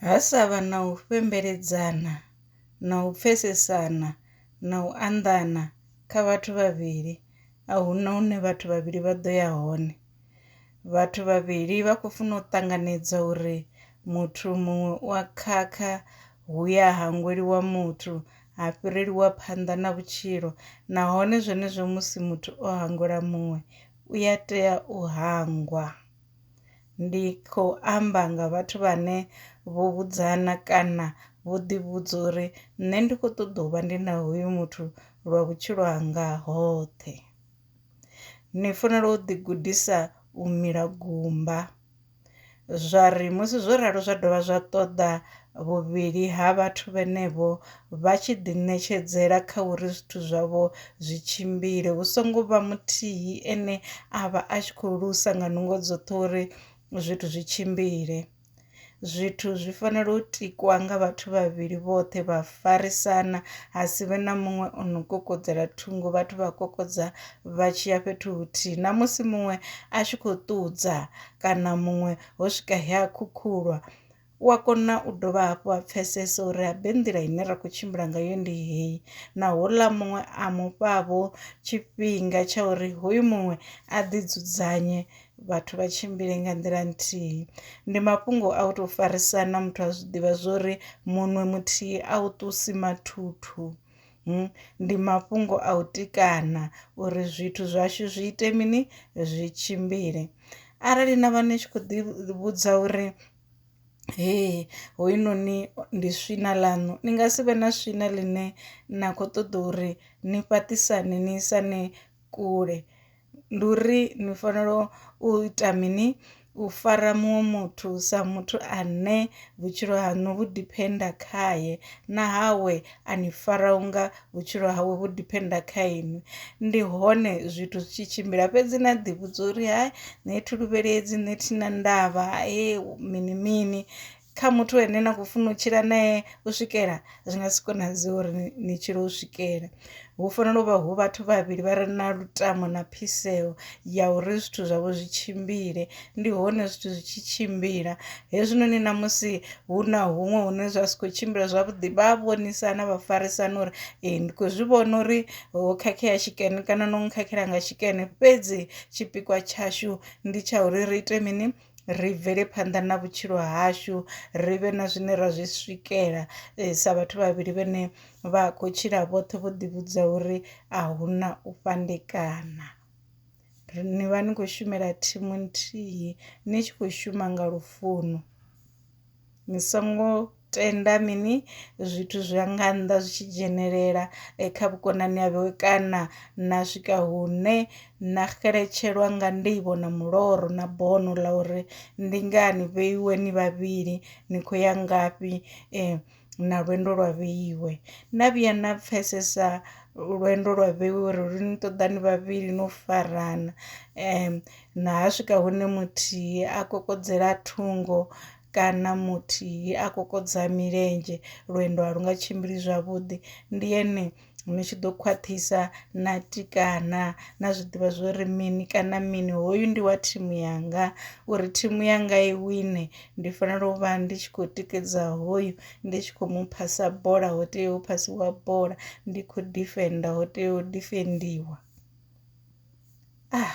Ha sa vha na u fhembeledzana na u pfesesana na u anḓana kha vhathu vhavhili a huna hune vhathu vhavhili vha ḓo ya hone, vhathu vhavhili vha khou funa u ṱanganedza uri muthu muṅwe u a khakha hu ya hangweliwa muthu ha fhirelwa phanḓa na vhutshilo nahone zwenezwo musi muthu o hangwela muṅwe u ya tea u hangwa. Ndi khou amba nga vhathu vhane vho vhudzana kana vho ḓi vhudza uri nṋe ndi kho ṱoḓa u vha ndi na hoyu muthu lwa vhutshilo hanga hoṱhe ni fanela u ḓi gudisa u mila gumba zwa ri musi zwo ralo zwa dovha zwa ṱoḓa vhuvhili ha vhathu vhenevho vha tshi ḓiṋetshedzela kha uri zwithu zwavho zwi tshimbile, hu songo vha muthihi ane a vha a tshi khou lusa nga nungo dzoṱhe uri zwithu zwi tshimbile. Zwithu zwi fanela u tikwa nga vhathu vhavhili vhoṱhe vha farisana, ha si vhe na muṅwe o no kokodzela thungo, vhathu vha kokodza vha tshi ya fhethu huthihi. Na musi muṅwe a tshi khou ṱudza kana muṅwe ho swika he a khukhulwa, U a kona u dovha hafhu a pfesesa uri habe nḓila ine ra khou tshimbila ngayo ndi heyi, na houḽa muṅwe a mu fha-vho tshifhinga tsha uri hoyu muṅwe a ḓidzudzanye, vhathu vha tshimbile nga nḓila nthihi. Ndi mafhungo a u tou farisana, muthu a zwi ḓivha zwa uri munwe muthihi a u ṱusi mathuthu. Hmm, ndi mafhungo a u tikana uri zwithu zwashu zwi ite mini zwi tshimbile arali na vha ni tshi khou ḓi vhudza uri hee hoyunoni ndi swina ḽaṋu ni nga si vhe na swina ḽine na khou ṱoḓa uri ni fhaṱisane ni isane kule ndi uri ni fanela u ita mini u fara muṅwe muthu sa muthu ane vhutshilo haṋu vhu diphenda khaye na hawe a ni fara unga vhutshilo hawe vhu diphenda kha inwi ndi hone zwithu zwi tshi tshimbila fhedzi na ḓi vhudza uri hai nṋe thi luvheledzi nṋe thi na ndavha he mini mini kha muthu ane na kho funa u tshila nae u swikela zwi nga si konadzee uri ni tshile u swikela hu fanela u vha hu vhathu vhavhili vha re na lutamo na phiseo ya uri zwithu zwavho zwi tshimbile ndi hone zwithu zwi tshi tshimbila hezwinoni na musi hu na huṅwe hune zwa si khou tshimbila zwavhuḓi vha vhonisana vha farisana uri ee ndi khou zwi vhona uri ho khakhea tshikene kana no khakhela nga tshikene fhedzi tshipikwa tshashu ndi tsha uri ri ite mini ri bvele phanḓa na vhutshilo hashu ri vhe na zwine ra zwi swikela eh, sa vhathu vhavhili vhene vha khou tshila vhoṱhe vho ḓivhudza uri a hu na u fhandekana ni vha ni khou shumela thimu nthihi ni tshi khou shuma nga lufuno Ni songo tenda mini zwithu zwi nga nnḓa zwi tshi dzhenelela kha vhukonani havho kana na swika hune na xeletshelwa nga nḓivho na muloro na bono ḽa uri ndi ngani vheiwe ni vhavhili ni khou ya ngafhi na lwendo lwa vheiwe. Na vhuya na pfesesa lwendo lwa vheiwe uri lu ni ṱoḓa ni vhavhili no farana . Na ha swika hune muthihi a kokodzela thungo kana muthihi a kokodza milenzhe, lwendo a lu nga tshimbili zwavhuḓi. Ndi hene ni tshi ḓo khwaṱhisa na tikana na zwi ḓivha zwo ri mini kana mini, hoyu ndi wa thimu yanga. Uri thimu yanga i wine ndi fanela u vha ndi tshi khou tikedza hoyu ndi tshi khou mu phasa bola ho tea u phasiwa bola ndi khou difenda ho tea u difendiwa ah